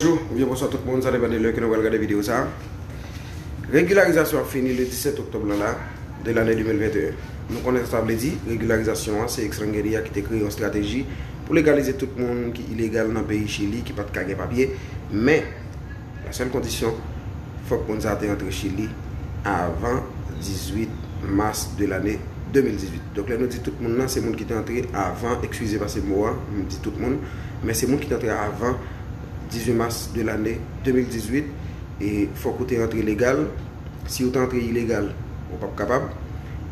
Bonjou oubyen bonswa tout moun, sa depan de lè ke nou pral gade video sa. Regilarizasyon ap fini le 17 oktòb lan la, de lane 2021. Nou konnen sa sa vle di, regilarizasyon an se Extrangeria a ki te kreye yon strateji pou legalize tout moun ki ilegal nan peyi Chili ki pat ka gen papye, men la sèl kondisyon fòk moun sa te antre Chili avan 18 mas de lane 2018. Donk lè nou di tout moun lan se moun ki te antre avan, ekskize pase mo a, m di tout moun. men se moun ki t antre avan 18 mas de lane 2018 e fòk ou te antre legal, si ou te antre ilegal ou pap kapab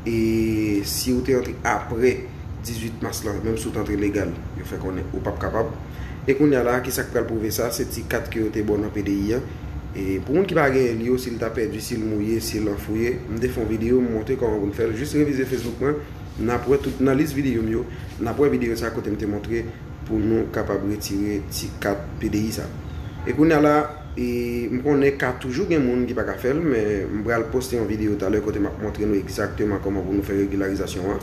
e si ou te antre apre 18 mas lan menm si ou t antre legal yo fè konnen ou pap kapab e kounya la kisa k pral pwouve sa se ti kat ke yo te ba w nan pdi an e pou moun ki pa genyen li yo si l ta pèdi si l mouye si l anfouye m te fè yon videyo m montre kòman pou n fè l jis revize facebook mwen. Nap wè tout nan lis videyo m yo, nap wè videyo sa kote m te montre pou nou kapab retire ti kat PDI sa. E kounya la e m konnen ka toujou gen moun ki pa ka fè l men m pral poste yon videyo talè kote map montre nou egzakteman kòman pou nou fè regilarizasyon an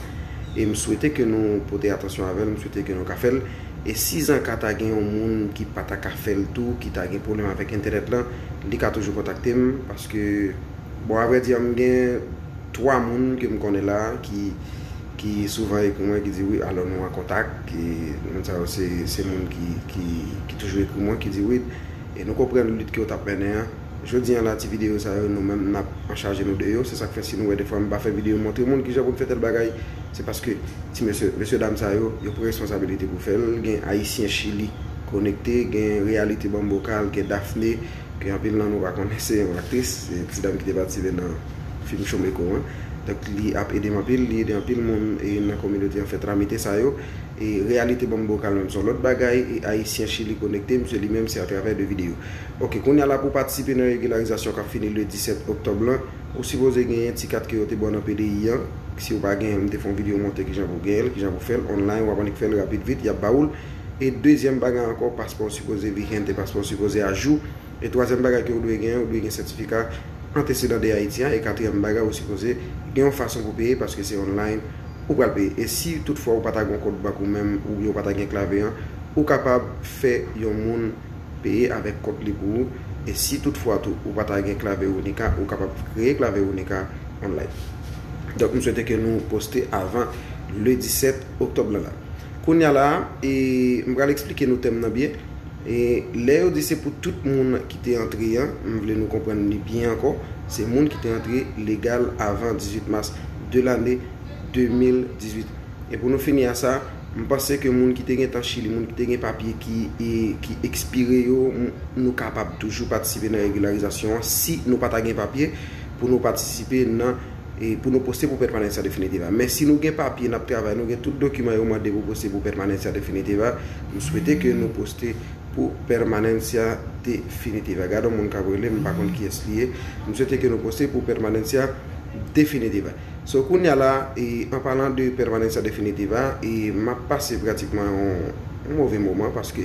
e m swete ke nou pote atansyon avè l m swete ke nou ka fè l e sizanka ta gen yon moun ki pa ta ka fè l tou ki ta gen pwoblèm avèk entènèt lan li ka toujou kontakte m paske Bon avre di a m gen 3 moun ke m konnen la ki souvan ekri mwen ki di wi alò nou an kontak e moun sa yo se moun ki toujou ekri mwen ki di wi e nou konprann lit ke w t ap mennen an. Jodi an la ti videyo sa yo nou menm n ap anchaje nou de yo se sa k fè si nou wè defwa m pa fè videyo montre moun kijan pou n fè tèl bagay se paske ti mesye mesye dam sa yo yo pran responsabilite pou fè l gen ayisyen chili konekte gen reyalite bambokal gen dafne Gen anpil nan nou pa konnen se yon aktris, se yon ti dam ki te patisipe nan fim Chomeko an. Donk li ap ede m anpil, li ede anpil moun nan kominote an fè tramite sa yo. E reyalite banm bokal menm se yon lòt bagay e ayisyen chili konekte misye li menm se atravè de videyo. Ok kounye a la pou w patisipe nan regilarizasyon k ap fini le 17 oktòb lan, ou sipoze genyen ti kat ke yo te ba w nan PDI an. Si w pa genyen l m te fè yon videyo montre kijan pou w genyen l, kijan pou w fè l online, w ap annik fè l rapid vit y ap ba ou l. E dezyèm bagay ankò, paspò w sipoze vigente, paspò w sipoze ajou. E twazyèm bagay ke ou dwe gen, ou dwe gen sètifika antesedan de Ayiti a. E katriyèm bagay, ou sipoze gen yon fason pou peye paske se online ou pral peye. E si tout fwa ou pa ta gen yon kont bank ou menm oubyen ou pa ta gen klave an, ou kapab fè yon moun peye avèk kont li pou ou. E si tout fwa tou ou pa ta gen klave Unica, ou kapab kreye klave Unica online. Donk m swete ke nou poste avan le 17 oktòb lan la. Kounya la a, e, m pral eksplike nou tèm nan byen. E, lè yo di se pou tout moun ki te antre an, m vle nou konprann li byen ankò, se moun ki te antre legal avan 18 mas de lane 2018. E pou nou fini a sa, m panse ke moun ki te gen tan Chili, moun ki te gen papye ki, e, ki ekspire yo, m, nou kapab toujou patisipe nan regilarizasyon an, si nou pa ta gen papye pou nou patisipe nan. pou nou poste pou pètmanantsya definitiv a. Men si nou gen papye nap travay, nou gen tout dokiman yo mande pou poste pou pètmanantsya definitiv a, m swete ke nou poste pou pètmanantsya definitiv a. Gade yon moun kap rele m, m pa konn kiyès li ye. M swete ke nou poste pou pètmanantsya definitiv a. So kounya la, an palan de pètmanantsya definitiv a, map pase pratikman yon move moman paske.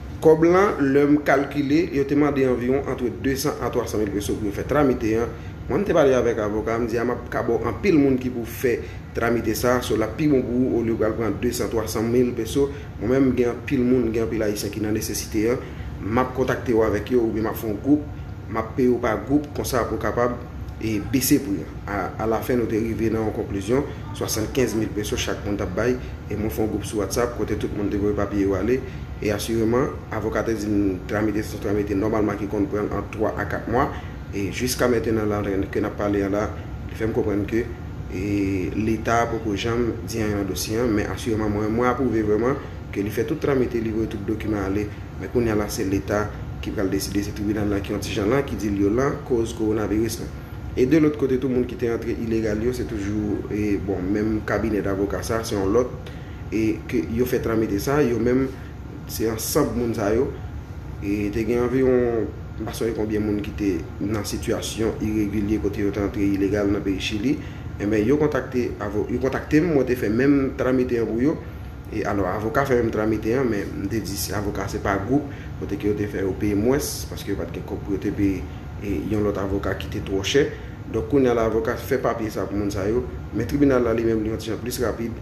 Kòb lan, lè m kalkile, yo te mande anviwon antre 200 a 300 mil peso pou yo fè tramite an. Mwen m te pale avèk avoka a, m di a m ap ka ba w anpil moun ki pou fè tramite sa, so l ap pi bon pou ou olye w pral pran 200, 300 mil peso. Mwen menm m gen anpil moun, gen anpil Ayisyen ki nan nesesite an, m ap kontakte w avèk yo oubyen m ap fè yon gwoup, m ap peye w pa gwoup konsa pou w kapab bese pri an. A alafen nou te rive nan yon konklizyon, 75 mil peso chak moun t ap bay e mwen fè yon gwoup sou WhatsApp kote tout moun te voye papye yo ale. E asireman, avokat te di m tramite san tramite nòmalman ki konn pran ant 3 a 4 mwa, e jiska mentenan la ke n ap pale an la, li fè m konprann ke Leta poko janm di anyen nan dosye an, men asireman mwen menm mwen apwouve vrèman ke li fè tout tramite, li voye tout dokiman ale, men kounye a la se Leta ki pral deside, se tribinal la ki yon ti jan lan, ki di l yo lan koz kowonaviris lan. E de lòt kote tou moun ki te antre ilegal yo se toujou bon menm kabinè davoka sa, se yon lòt. e ke yo fè tranmete sa, yo menm se ansanb moun sa yo, e te gen anviwon m pa sonje konbyen moun ki te nan sitiyasyon iregilye kote yo te antre ilegal nan peyi Chili, enben yo kontakte avo, yo kontakte m, mwen te fè menm tranmete an pou yo, e alò avoka fè menm tranmete an, men m te di avoka se pa gwoup, kote ke yo te fè yo peye mwens, paske yo pa t gen kòb pou yo te peye e yon lòt avoka ki te twò chè, donk kounye a la avoka fè papye sa pou moun sa yo, men tribinal la li menm li yon ti jan plis rapid,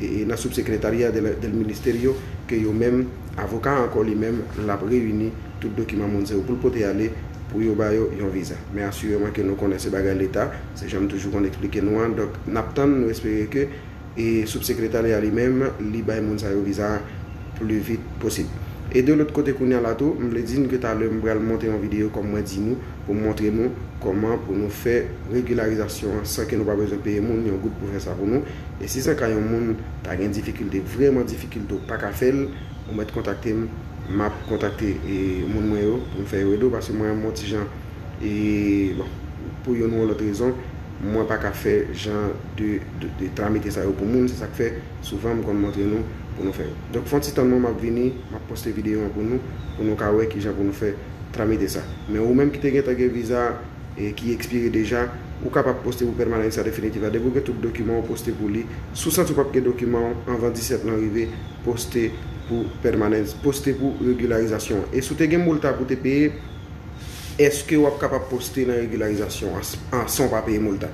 e nan Subsecretaria del Ministerio ke yo menm avoka ankò li menm l ap reyini tout dokiman moun sa yo pou l pote ale pou yo ba yo yon viza men asireman ke nou konnen se bagay leta se jan m toujou konn eksplike nou an donk n ap tann nou espere ke e Subsecretaria li menm li bay moun sa yo viza a pli vit posib e de lòt kote kounye a la tou m vle di n ke talè m pral monte yon videyo kòm mwen di nou pou montre nou kòman pou nou fè regilarizasyon an san ke nou pa bezwen peye moun yon goud pou fè sa pou nou, e si san ka yon moun ta gen difikilte, vrèman difikilte ou pa ka fè l, ou mèt kontakte m, m ap kontakte moun mwen yo pou m fè yo ede w, paske mwen an m on ti jan e bon pou youn ou lòt rezon mwen pa ka fè jan de tramite sa yo pou moun, se sa k fè souvan m konn montre nou pou nou fè yo. Donk fon ti tann mwen m ap vini, m ap poste videyo an pou nou, pou nou ka wè ki jan pou nou fè. Ta mete sa. Men ou menm ki te gentan gen viza a ki ekspire deja, ou kapab poste pou pèmanansa definitif la. Depi ou gen tout dokiman ou poste pou li. Si w santi ou pap gen dokiman ou anvan 17 lan rive, poste pou pèmanans, poste pou regilarizasyon an. E si w te gen molta pou w te peye, eske wap kapab poste nan regilarizasyon an san w pa peye molta?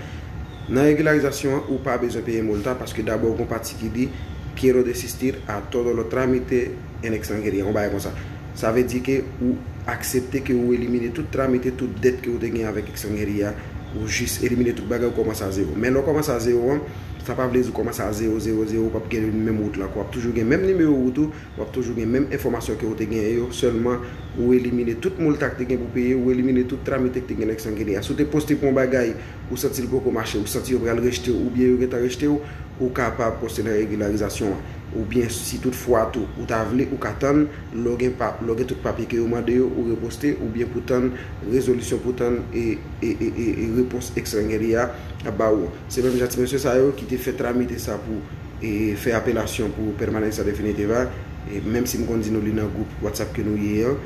Nan regilarizasyon an, ou pa bezwen peye molta paske dabò gon pati ki di Quiero desistir a todo lo trámite en extranjeria, yon bagay konsa. Sa vle di ke ou aksepte ke ou elimine tout tramite, tout dèt ke ou te gen avèk ekstranjeri a, ou jis elimine tout bagay ou kòmanse a zewo. Men lè ou kòmanse a zewo an, sa pa vle di ou kòmanse a zewo, zewo, zewo, ou pap gen menm wout la ankò. Wap toujou gen menm nimewo wout ou, wap toujou gen menm enfòmasyon ke ou te genyen yo, sèlman ou elimine tout molta k te gen pou peye, ou elimine tout tramite k te gen nan ekstranjeri a. Si w te poste pou yon bagay, ou santi l poko mache, ou santi yo pral rejte w oubyen yo gentan rejte w, ou kapab poste nan regilarizasyon an. Oubyen si tout fwa tou ou ta vle, ou ka tann, lè w gen pa, lè w gen tout papye ke yo mande yo, ou reposte, oubyen pou tann rezolisyon pou tann e, e, e, e, e repons ekstrengeri a ap ba ou an. Se menm jan ti mesye sa yo ki te fè tramite sa pou e, fè apelasyon pou permanencia definitiva, e, menm si m konn di nou li nan gwoup WhatsApp ke nou ye an,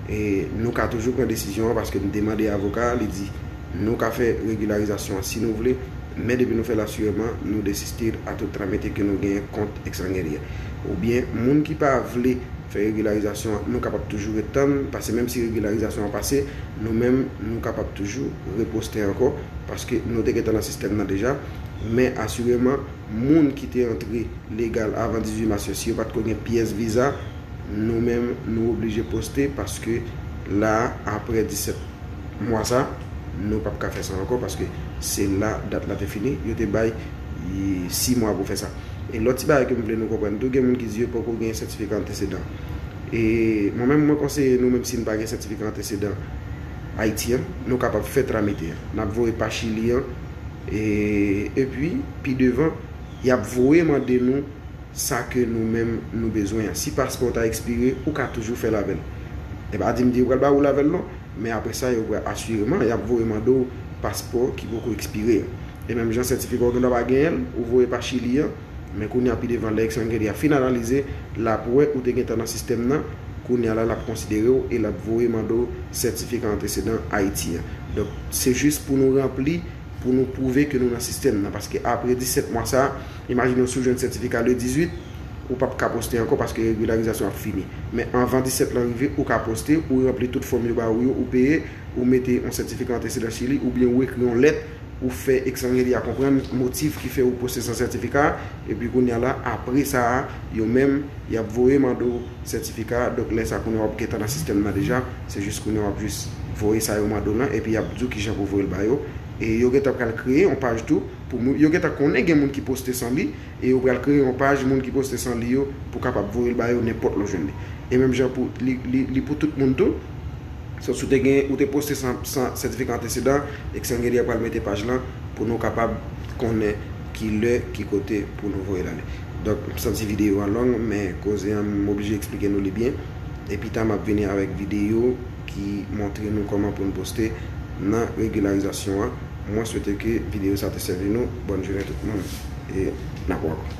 e, nou ka toujou pran desizyon an paske m te mande avoka a, li di. Nou ka fè regilarizasyon an si nou vle, men depi nou fè l asireman, nou desistir a tout tramete ke nou genyen kont ekstrangerie. Oubyen moun ki pa vle fè regilarizasyon an, nou kapab toujou ret tann, pase menm si regilarizasyon an pase, nou menm nou kapab toujou reposte ankò, paske nou te gentan nan sistèm nan deja. Men asireman, moun ki te antre legal avan 18 mas yo, si yo pa t ko gen pyès viza, nou menm nou oblije poste, paske la a, apre 17. mwa sa nou pap ka fè sa ankò paske se la dat la te fini yo te bay 6 mwa pou fè sa e lòt ti bagay ke m vle nou konprann tou gen moun ki di yo poko gen sètifika antesedan e mwen menm mwen konseye nou menm si nou pa gen sètifika antesedan Ayiti an nou kapab fè tramite an nap voye pa chili an e epi pi devan yap voye mande nou sa ke nou menm nou bezwen an si paspò ta ekspire ou ka toujou fèl avèl e pa di m di yo pral ba ou l avèl non. Men apre sa, yo pral asireman y ap voye mande w paspò ki poko ekspire a. E menm jan sètifika w gendwa pa genyen l, ou voye pa Chili an, men kounye a pi devan lè Extranjeria a fin analize, l ap wè ou te gentan nan sistèm nan, kounye a la l ap konsidere w e l ap voye mande w sètifika antresedan Ayiti an. Donk, se jis pou nou ranpli pou nou pwouve ke nou nan sistèm nan paske apre 17 mwa sa a imajine w si w jwenn sètifika le 18 ou pap ka poste ankò paske regilarizasyon ap fini men anvan 17 lan rive ou ka poste ou ranpli tout fòm yo ba ou yo ou peye ou mete yon sètifika antesedan chili oubyen ou ekri yon lèt ou fè ekstranjeri a konprann motif ki fè ou poste san sètifika a epi kounya la apre sa a yo menm yap voye mande w sètifika a donk lè sa kounya wap gentan nan sistèm nan deja. Se jis kounye a wap jis voye sa yo mande w lan epi yap di w kijan pou w voye l ba yo. E yo gentan pral kreye yon paj tou pou moun, yo gentan konnen gen moun ki poste san li e yo pral kreye yon paj moun ki poste san li yo pou kapab voye l ba yo nenpòt lè w jwenn li. E menm jan pou li li li pou tout moun tou. So si w te gen, ou te poste san san sètifika antesedan, Xngenie pral mete paj lan pou nou kapab konnen ki lè, ki kote pou nou voye l ale. Donk m santi videyo an long men koze an m oblije eksplike nou li byen. E pita map vini avèk video ki montre nou kòman poun poste nan regilarizasyon an. Mwen swete ke video sa te sèvi nou. Bòn jounen tout moun e nap wè ankò.